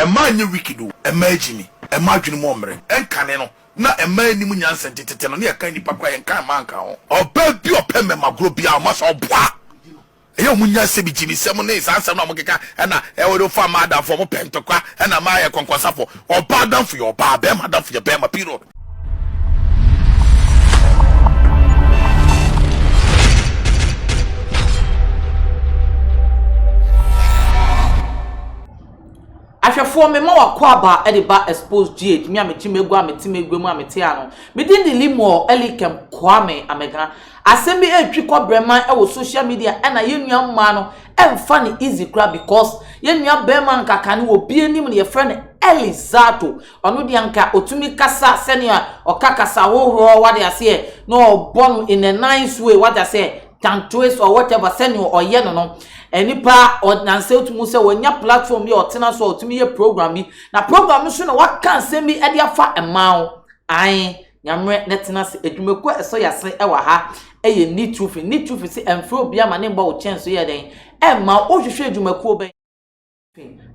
Mma ɛnyɛ wicked o, mma ɛgyimi, mma adwene mu ɔmmere, ɛnkane no, na mma ɛnnim nyansa nti tete no ne ɛka nnipa koraa yɛnka mma nka ho. Ɔbaa bi a ɔpɛ mmɛma agorɔ biara ɔma saa ɔboa ɛyɛ ɔmo nyansa bi gyimi sɛm ne saa nsɛm no a ɔmo keka ɛna ɛwɔ de ɔfa mmaa adamfoɔ ɔmo pɛ ntɔkwa ɛna mmaa yɛ kɔnkɔnsafoɔ ɔbaa adamfo yɛ ɔbaa bɛɛma adamfo yɛ bɛɛma period. Ahwɛfoɔ, mema w'akwaaba de ba Exposed GH, me a mete m'agua a mete m'agua mu a mete ha no. Me din de Limor Elikem Kwame Amega. Asɛm bi retwi kɔ brɛman wɔ social media ɛna yɛn nua mmaa no mfa no easy koraa because yɛn nua barima anka kan no wɔ bi anim no yɛfrɛ no Eli Zato. Ɔno deɛ anka ɔtumi kasa sɛnea ɔka kasa hohoroɔ wade aseɛ na ɔbɔ no in a nice way wade aseɛ. Tantoes or whatever sɛnea ɔyɛ no no nnipa ɔnansa otumi hu sɛ wanya platform bi a ɔtena so a ɔtumi yɛ program bi na program no so na waka nsɛm bi de afa mmaa ho ae nyammerɛ na tena ase adwumakuo a ɛsɔ yɛase ɛwɔ ha ɛyɛ ni tufi ni tufi sɛ ɛmfrɛ obi ama ne mbɔ wo kyɛn so yɛ dɛn ɛmma wohwehwɛ adwumakuo bɛn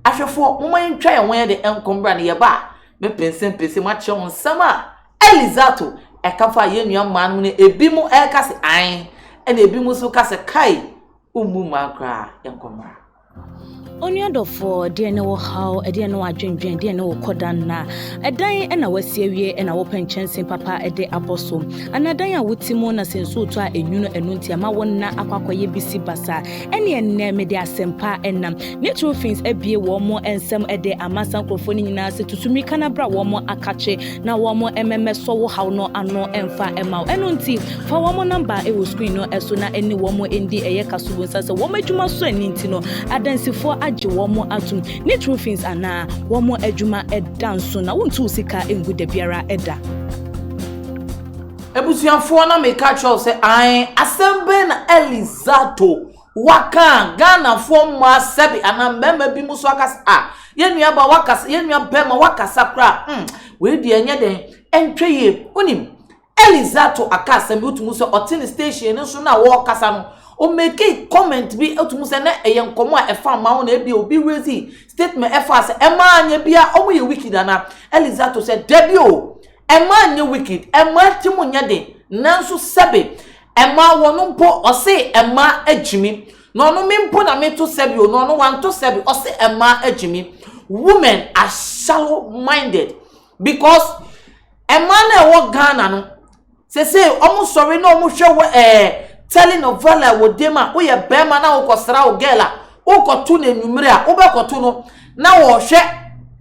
Ahwɛfoɔ, momma yɛntwa yɛn ho yɛn de nkɔ mmra no yɛba a, mɛpɛnsɛmpɛnsɛm akyerɛ mo nsɛm a Eli Zato ɛka faa yɛn nua mmaa no ho no, ebi mo ɛka sɛ ae, ɛna ebi mo nso ka sɛ kai, wommu mmaa koraa, yɛnkɔ mmra. Onua dɔfoɔ, deɛ ne wo haw, ɛdeɛ ne wo adwendwen, deɛ ne wo kɔda nna, ɛdan ɛna wasi awie ɛna wopɛ nkyɛnsee papa ɛde abɔ so, anaa dan a wote mu na sɛ nsuo tɔ a ɛnwunu ɛno nti ɛma wo nna akɔ akɔyɛ bisi basa, Ɛnneɛ nnɛ mede asɛmpa nam. Ne Trofenes abue wɔn nsam de ama saa nkurɔfoɔ no nyinaa sɛ, Tutu mmirika na bra wɔn akakye, na wɔmmɛmɛsɔ wo haw no ano mfa mma wo. Ɛno nti, fa wɔn namba wɔ screen no so na ne wɔn ndi. Ɛyɛ kasubonsa sɛ wɔn adwuma sɔ ani nti no, adansifoɔ agye wɔn atom. Ne Trofenes anaa? Wɔn adwuma da nso, na wontu wo sika ngu dabiara da. Abusuafoɔ na meka kyerɛ wo sɛ ae asɛm bɛn na Elly Zato waka a Ghanafoɔ mmaa sɛbe anaa mmarima bi mo so aka sɛ ah yɛn nua ba wakasa yɛn nua barima wakasa koraa hmm wei deɛ ɛnyɛ dɛn ɛntwɛ yie wonim Elly Zato aka asɛm bi wotumu sɛ ɔte ne station no so na wɔkasa no ɔmɛki comment bi wotumu sɛ na ɛyɛ nkɔmɔ a ɛfa mmaa ho na ebi obi raise statement ɛfa sɛ ɛmaa nyɛ bia ɔmo yɛ wicked anaa Elly Zato sɛ dabi o Mma nyɛ wicked, mma tirim nyɛ den, nanso sɛbe, mma wɔn mpo, ɔse mma agyimi, na ɔno me mpo na meto sɛbe o, na ɔno wanto sɛbe, ɔse mma agyimi. Women are shallow minded because mmaa no a ɛwɔ Ghana no, sesei wɔn sɔre na wɔn hwɛ wo ɛɛ, telenovela wɔ dem a, woyɛ bɛɛma na wokɔ sra wo girl a, Wokɔto no anwummere a, wobɛkɔto no na wɔrehwɛ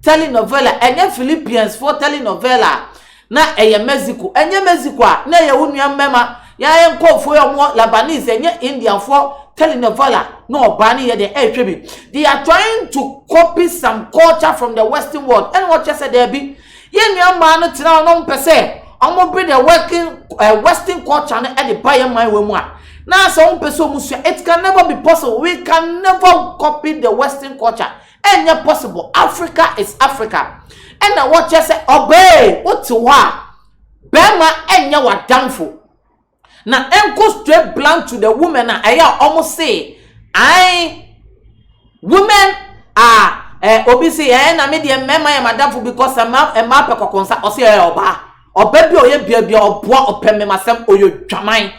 telenovela. Ɛnyɛ Philippiansfoɔ telenovela a na ɛyɛ Mexico. Ɛnyɛ Mexico a na ɛyɛ wo nua mmarima, yɛn nkurɔfoɔ a wɔwɔ Lebanese, ɛnyɛ Indianfoɔ telenovela na ɔbaa no yɛ dɛn ɛrehwɛ bi. They are trying to copy some culture from the western world ɛna wɔkyerɛ sɛ daabi, Yɛn nua mmaa no tena hɔ na wɔpɛ sɛ wɔbere deɛ working eh, western culture no de ba yɛn man wɔ mu a na sɛ wɔpɛ sɛ wɔn sua it can never be possible we can never copy the western culture ɛnyɛ possible Africa is Africa ɛna wɔkyerɛ sɛ ɔbaa wote hɔ a bɛrima ɛnyɛ w'adamfo. Na ɛnkɔ straight blunt to the women a ɛyɛ a wɔn se ae women are eh, obi se eh, na me deɛ mmarima yɛ madamfo because eh, mmaa eh, mmaa pɛ kɔkɔɔ nsa ɔse eh, ɔbaa ɔbaa bi a ɔyɛ bia bia ɔboa ɔpɛ mmɛma sɛm ɔyɛ dwaman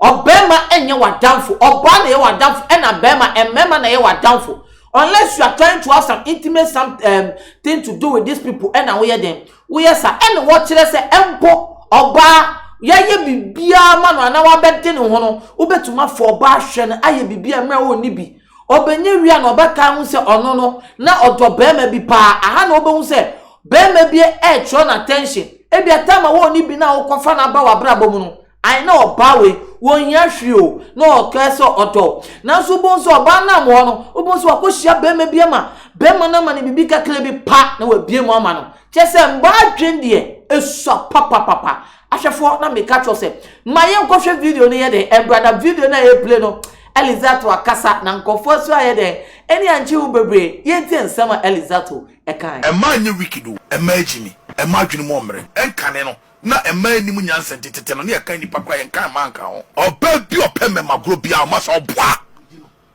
ɔbarima ɛnyɛ wadamfo ɔbaa na ɛyɛ wadamfo ɛna barima mmarima na ɛyɛ wadamfo unless you are trying to have some intimate some um, thing to do with these people ɛna woyɛ den Woyɛ saa ɛna wɔkyerɛ sɛ mpo ɔbaa yɛayɛ biribiara ma no anaa wabɛde ne ho no, wobɛtumi afa ɔbaa ahwɛ no ayɛ biribi a mmerɛ ɔnni bi. Ɔbɛnya wie a na ɔbɛtaa hu sɛ ɔno no na ɔdɔ barima bi paa. Aha na wobɛhu sɛ barima bi ɛretwerɛ no attention. Ebia time a ɔnni bi no a wokɔfa no aba w'abrabɔ mu no, Ae, na ɔbaa wei, ɔnhia hwee o, na ɔkaa sɛ ɔdɔ wo. Nanso wobɛhu sɛ ɔbaa no a wɔ hɔ no, wobɛhu sɛ wakɔhyia barima bi ama barima no ama no biribi kakra bi pa na wabie mu ama no. Kyerɛ sɛ mmaa adwene deɛ ɛsua papapapa. Ahwɛfoɔ na meka kyerɛ sɛ ma yɛnkɔhwɛ video no yɛ dɛn ɛmbra na video no a ɛreplay no Elizatu akasa na nkurɔfoɔ nso ayɛ dɛn ani ankye ho bebree yɛntie nsɛm a Elizatu ɛkaeɛ. Mmaa nyɛ wicked o, mmaa gyimi, mmaa adwene mu ɔmmrɛ, ɛnkane no, na mmaa nnim nyansa nti tete no ne ɛkan nnipa koraa yɛnkan mmaa nka ho. Ɔbaa bi a ɔpɛ mmɛma agorɔ biara ɔma sɛ ɔboa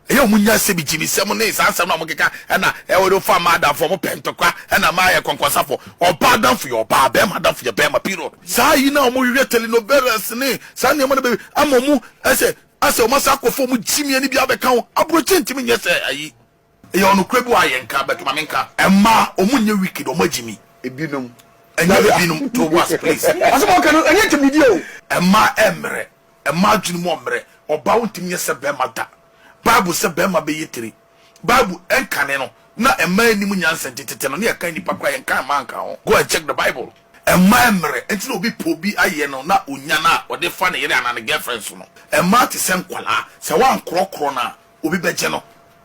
ɛyɛ ɔmo nya nsɛm gyimi nsɛm ne saa nsɛm no a ɔmo keka ɛna ɛwɔ de fa mmaa adamfo ɔmo pɛ ntɔkwa ɛna mmaa yɛ kɔnkɔnsafo ɔbaa adamfo yɛ ɔbaa bɛrima adamfo yɛ bɛrima period. Saa yi na ɔmo hwehwɛ telenovelas ne saa nneɛma no bɛbi ama ɔmo ɛsɛ asɛ ɔmo asan akɔfa ɔmo gyimie no bi abɛka ho abrɔkyɛ ntumi nyɛ sɛ ayi. Eyɛ ɔnokorɛ bi wɔ ayɛ nka but ma me nka. Ɛmmaa ɔmo nyɛ wicked ɔmo agyimi. Ebinom. Ɛnyɛ ebinom to wo bo ase please. Asɛm a ɔka no ɛnyɛ ntimidie o. Ɛmmaa ɛmmerɛ, ɛmmaa adwene mu ɔmmerɛ, ɔbaa wontumi nyɛ sɛ bɛɛma da, bible sɛ bɛɛma bɛyɛ tire, bible ɛnkane no, na ɛmmaa ɛnnim nyansa nti tete no ne ɛkan nnipa koraa yɛnka ɛmmaa nka ho, go and check the bible. Ɛmmaa ɛmmerɛ nti na obi pɛ obi ayɛ no na ɔnya no a ɔde fa ne yere anaa ne girlfriend so no, ɛmmaa te sɛ nkwadaa sɛ woankorɔkorɔ no a Obi bɛgye no.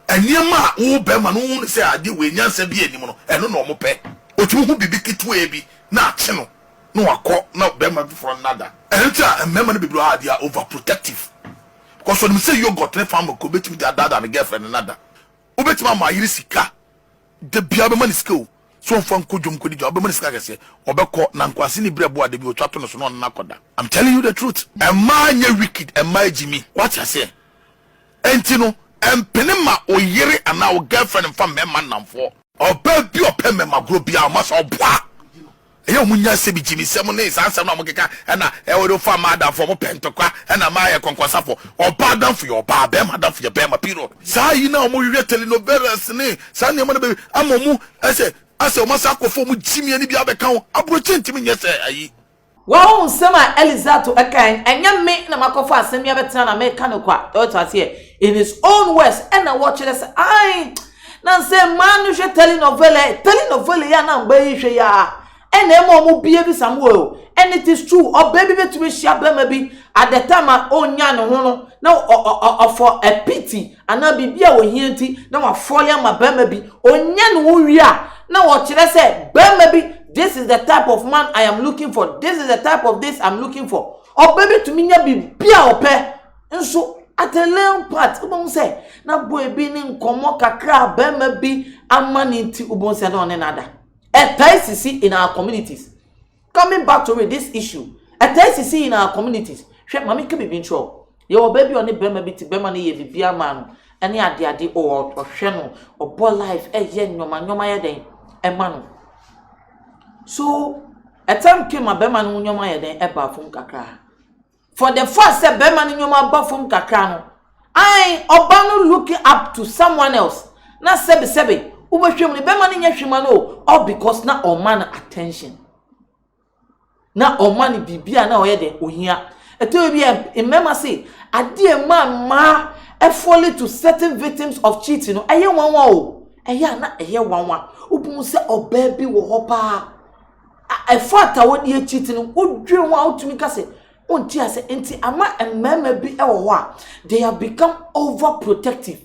Nneɛma a wo barima no hu no sɛ adeɛ wei nyansa biara nnim no, ɛno na wɔpɛ. Ɔtumi hu biribi ketewaa bi na akye no na wakɔ na barima foforɔ no ada. Ɛno nti na mmarima no bebree wɔ hɔ a, they are overprotective because ɔnim sɛ yoghurt ne fa mako bɛtumi de adaadaa ne girlfriend no ada. Wobɛtumi ama ayere sika da biara, wobɛma no sika o, sɛ ɔmfa nkɔ dwom nkɔdi dwa, wobɛma no sika kɛseɛ, ɔbɛkɔ na nkwase ne berɛboɔ a da bi ɔtwa to no so na ɔne no akɔda. I'm telling you the truth. Mmaa nyɛ wicked, mmaa gyimi. Woate aseɛ? Enti no, mpene ma wo yere anaa wo girlfriend mfa mmarima nnamfoɔ. Ɔbaa bi a ɔpɛ mmarima goro biara, ɔma sɛ ɔboa. Ɛyɛ wɔn nya nsɛm, gyiminsɛm ne saa nsɛm no a wɔkeka, ɛna wode wofa mmaa adamfoɔ, wɔpɛ ntɔkwa, ɛna mmaa yɛ kɔnkɔnsafoɔ. Ɔbaa adamfo yɛ ɔbaa, barima adamfo yɛ barima, period. Saa yi no a wɔhwehwɛ telenovelas ne saa nneɛma no bɛbi ama wɔn asɛ asɛ wɔasan akɔfa wɔn gyimie no bi abɛka ho. Aburokyi ntumi nyɛ saa yi. Wahu nsɛm a Eli Zato kae no, ɛnyɛ me na makɔfa asɛm yi abɛtena na mereka no kwa, ɔte aseɛ, in his own words, ɛna wɔkyerɛ sɛ, ae, na nsɛ mmaa no hwɛ telenovela, telenovela yi a na mmaa yi hwɛ yi ara, ɛna ɛma wɔn bia bisa mo o, and it is true, ɔbaa bi bɛtumi ahyia barima bi at the time a ɔnyaa ne ho no, na ɔ, ɔ, ɔ, ɔ, for a pity, anaa biribi a ohia nti na wafɔw yɛn ma barima bi onya ne ho wie a, na wɔkyerɛ sɛ barima bi this is the type of man I am looking for, this is the type of this I'm looking for. Ɔbɛ betumi nya biribi a ɔpɛ nso at a little part wobɛhu sɛ na boy bi ne nkɔmmɔ kakra a barima bi ama ne nti wobɛhu sɛ na ɔne no ada. Ɛtae sisi in our communities. Coming back to it, this issue ɛtaa sisi in our communities, hwɛ ma me nka biribi nkyerɛ wo, yɛwɔ baa bi a ɔne bɛrima bi te, bɛrima no yɛ biribiara maa no ɛne ade ade o, ɔhwɛ no, ɔbɔ life, ɛyɛ nnoɔma nnoɔma yɛ dɛn ɛma no, so a time came a bɛrima no ho nnoɔma yɛ dɛn ɛbaa fam kakra, For the fact sɛ bɛrima no nneɛma aba fam kakra no, ae, ɔba no look up to someone else, na sɛbesɛbe, wobɛhwɛ mu no, bɛrima no nyɛ hwee ma no o, all because na ɔma no attention. Na ɔma no biribi a na ɔyɛ dɛ, ohia. Ɛtɔ bi a, mmarima se, adeɛ a ɛma mmaa ɛfɔle to certain victims of cheating no, ɛyɛ nwanwa o. Ɛyɛ a na ɛyɛ nwanwa. Wobɛhu sɛ ɔbaa bi wɔ hɔ paa. A Ɛfata wode akyi ti no, wodwen ho a wotumi ka sɛ wonte ase nti ama mmarima bi wɔ hɔ a they have become over protective.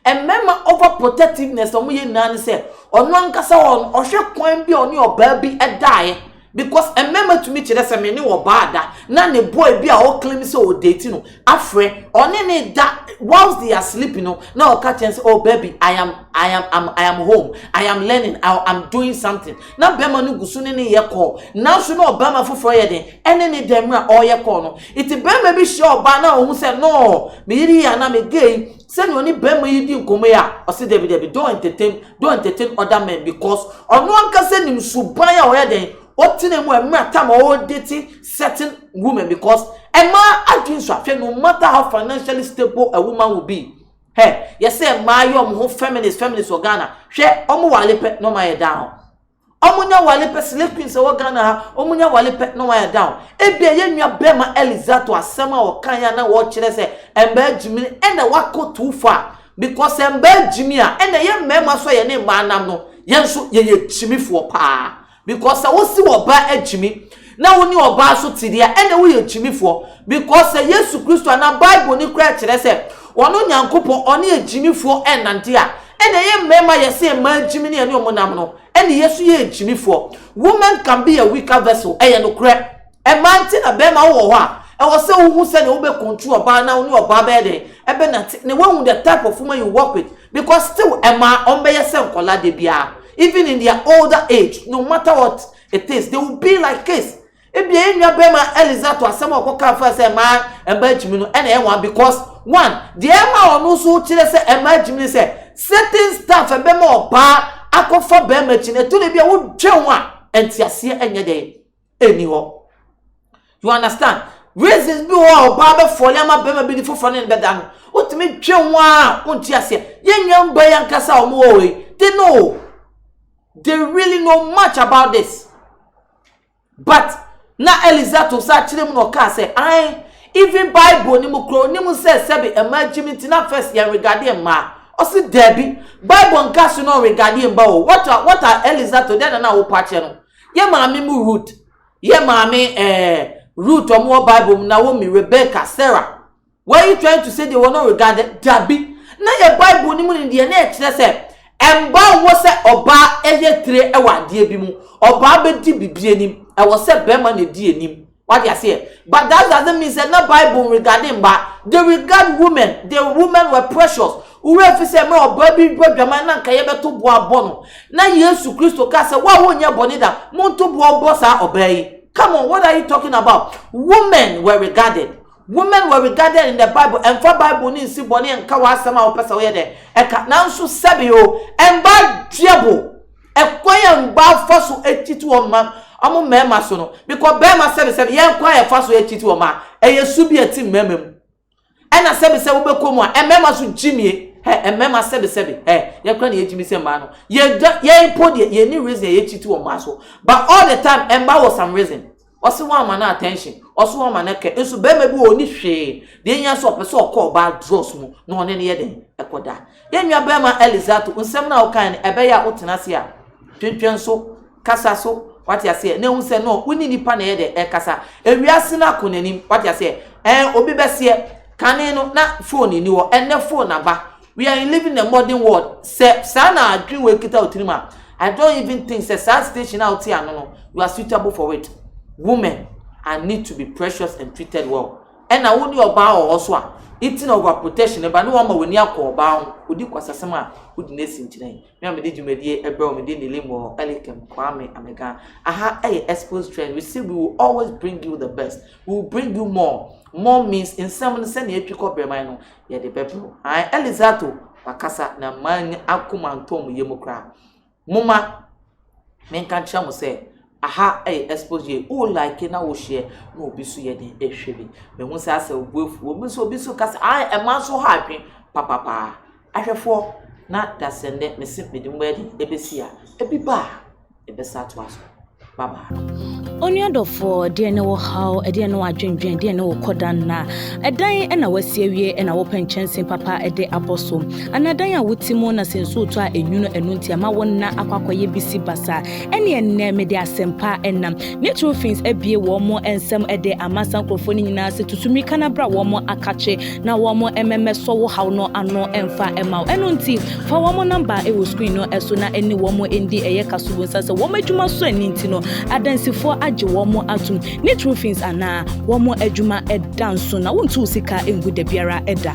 Mmarima over protectiveness a wɔyɛ nyinaa ne sɛ ɔno ankasa wɔ no ɔhwɛ kwan bi a ɔne ɔbaa bi daeɛ because mmarima tumi kyerɛ sɛ me ne ɔbaa da na ne boy bi a ɔclaim sɛ ɔdate no afrɛ ɔne ne da whilst they are sleeping no na ɔka kyɛn sɛ oh baby I am I am I'm, I am home I am learning I am doing something na bɛrima no gu so ne ne yɛ kɔɔ nanso na ɔbarima foforɔ yɛ den ɛne ne dɛm a ɔreyɛ kɔɔ no nti bɛrima bi hyia ɔbaa na ɔhu sɛ no me yere yi anaa me gay sɛnea ɔne bɛrima yi di nkɔmmɔ yi a ɔse dabi dabi don't entertain don't entertain other men because ɔno ankasa nim suban a ɔyɛ den ɔtena mu a mmerɛ tam a ɔredate certain women because mmaa adwene so ahwɛ no matter how financially stable a woman will be hɛ yɛsɛ mmaa yɛ wɔn ho feminist feminist wɔ ghana hwɛ wɔn wale pɛ na wɔn ayɛ down wɔn nya wale pɛ slay queen sɛ wɔ ghana ha wɔn nya wale pɛ na wɔn ayɛ down ebi a yɛ nua bɛrima elizato asɛm a wɔka yɛ na wɔkyerɛ sɛ mmaa gyimi ɛna wakɔ too far because mmaa gyimi a ɛna yɛ mmarima so yɛ ne mmaa nam no yɛn nso yɛyɛ gyimifoɔ paa. Because sɛ wo se ɔba akyimi na wo ne ɔbaa nso te deɛ a, ɛnna woyɛ kyimifoɔ. Because sɛ Yesu Kristo anaa Bible no koraa kyerɛ sɛ ɔno Nyankopɔn ɔne agyimifoɔ nnante a, ɛnna yɛn mmarima yɛ se mmaa agyimi ne yɛne wɔn nam no, ɛnna yɛn nso yɛyɛ kyimifoɔ. Women can be a weaker vessel, ɛyɛ nokorɛ. Ɛmaa nti na bɛɛma wowɔ hɔ a ɛwɔ sɛ wohu sɛdeɛ wobɛ control ɔbaa na wone ɔbaa bɛyɛ dɛn ɛbɛ nate na wahu the type of woman you work with because still ɛmaa wɔn bɛyɛ sɛ nkɔla da biara even in their older age no matter what it is they will be like kids ebia yɛn nua bɛɛma Eliza to asɛm a ɔkɔ kan fa sɛ ɛmaa ɛmaa gyimi no ɛna ɛyɛ wɔn because one deɛ ɛma ɔno nso kyerɛ sɛ ɛmaa gyimi ne sɛ certain stuff ɛbɛma ɔbaa akɔfa bɛɛma akyi na ɛtu na ebia wodwɛn a ɛnteaseɛ ɛnyɛ dɛn. nni hɔ. You understand? Reasons bi wɔ hɔ a ɔbaa bɛfɔle ama bɛrima bi ne foforɔ ne no bɛda no. Wotumi twe ho a wonte aseɛ. Yɛn nua mba yi ankasa a wɔn wɔ hɔ yi, they know. They really know much about this. But na Eliza to sa kyerɛ mu na ɔkaa sɛ, ae, even Bible no mu koraa onim sɛ sɛbe mmaa gyim nti na first yɛn regade mmaa. Ɔse daabi, Bible nka so na ɔregade mba o. What are, what are Eliza to dɛn na na wopɔ akyɛ no? Yɛ maame mu Ruth, yɛ maame eh, Ruth ɔmo wɔ bible mu, Naomi, Rebecca, Sarah, were you trying to say deɛ wɔn no regard, dabi, na yɛ bible no mu no deɛ na ɛkyerɛ sɛ ɛmba wɔ sɛ ɔbaa ɛyɛ tire ɛwɔ adeɛ bi mu, ɔbaa bɛdi bibi anim, ɛwɔ sɛ bɛɛma na ɛdi anim. Wate aseɛ? But that doesn't mean sɛ na Bible nregade mmaa. They regard women. The women were precious. Wo werɛ mfi sɛ mmerɛ ɔbaa bi rebɔ adwaman na anka yɛbɛto boɔ abɔ no, na Yesu Kristo kaa sɛ, Wo a wonyɛɛ bɔne da, monto boɔ mmɔ saa ɔbaa yi. Come on, what are you talking about? Women were regarded. Women were regarded in the Bible. Ɛmfa Bible no nsi bɔne nka w'asɛm a wopɛ sɛ woyɛ dɛn? Ɛka. Nanso sɛbe o, mmaa dua bo. Ɛkwan a mbaa fa so kyit hɔn mba ɔmo mbarimba so no, bkɔ barimba sɛbesɛbe yɛ kwan a yɛfa so kyit hɔn mba yɛ su bi a tsim mbarimba mu. Nna sɛbesɛbe wobɔkɔ mu a, mbarimba so gyimie hɛ mbarimba sɛbesɛbe hɛ yɛ kora na yɛ gyimi sɛ mbaa no. Yɛ mpo deɛ yɛnni reason a yɛ kyit wɔ mbaa so but all the time mbaa wɔ some reason. Ɔse wamma no attention, ɔse wamma no care nso barima bi wɔ hɔ ɔnni hwee, deɛ ɛhia sɛ ɔpɛ sɛ ɔkɔ ɔbaa drawers mu na ɔne no yɛ dɛn? Ɛkɔda. Yɛn nua barima Elizato, nsɛm no a wokaeɛ no ɛbɛyɛ a wotena ase a, twentwɛn so, kasa so, wate aseɛ, na ɛhu sɛ no, wone nipa na ɛyɛ dɛn? Ɛkasa. Ewiase no akɔ n'anim, wate aseɛ, ɛɛ, obi bɛseɛ, kane no na phone nni hɔ, ɛnnɛ phone aba, We are in living in a modern world. Sɛ saa na adwene wɔ ekita wɔ tirim a, I don't even think sɛ saa station a wote ano no, you are suitable for it. Women are need to be precious and treated well. Ɛna wo ne ɔbaa wɔ hɔ so a, nti na over protection ɛba ne wɔn ma w'ani akɔ ɔbaa ho. Odi kwasasɛm a, wodi n'asi nkyerɛ. Me a mede dwumadie ɛbrɛ wɔn, mede nilim wɔ Elikem Kwame Amega. Aha ɛyɛ exposed trend. We say we will always bring you the best. We will bring you more. More means nsɛm no sɛnea etwi kɔ brɛman no, yɛde bɛbrɛw. Ae, Elizato, wakasa, na mmaa nni akoma ntɔɔ mo yam koraa. Momma menka nkyerɛ mo sɛ, aha yɛ expose yɛ, wo like na wo share, na obi nso yɛ den ɛhwɛ bi. Mehu sɛ asɛ obu afu, obi nso obi nso ka sɛ, ae, ɛma nso ha adwen papapaa. Ahwɛfoɔ, na dasɛnnɛ mese mede mo adi ɛbɛsi a, ebi ba a. Yɛbɛsan atoa so. Bye bye. Onua dɔfoɔ, deɛ ne wo haw, deɛ ne wadwendwen, deɛ ne wo kɔda nna. Ɛdan na wasi awie na wopɛ nkyɛnse papa de abɔ so. Ana dan a wote mu na sɛ nsuo tɔ a enwunu ɛno nti ama wo nna akɔ akɔyɛ bisi basa. Ɛne ɛnnɛ mede asɛmpa ɛnam. Neutrofins abie wɔn mo nsɛm ɛde ama saa nkurɔfoɔ no nyinaa sɛ tutu mmirika na bra wɔn mo akakye na wɔmmɛmɛsɔ wo haw no ano mfa mma wo. Ɛno nti, fa wɔn namba wɔ screen no so na ɛne wɔn ndi ɛyɛ ka so. Wonsa sɛ wɔn adwuma sɔ ani nti no, adansifoɔ agye wɔn atom. Ne true fins anaa wɔn adwuma da nso na wontu wo sika ngu da biara da.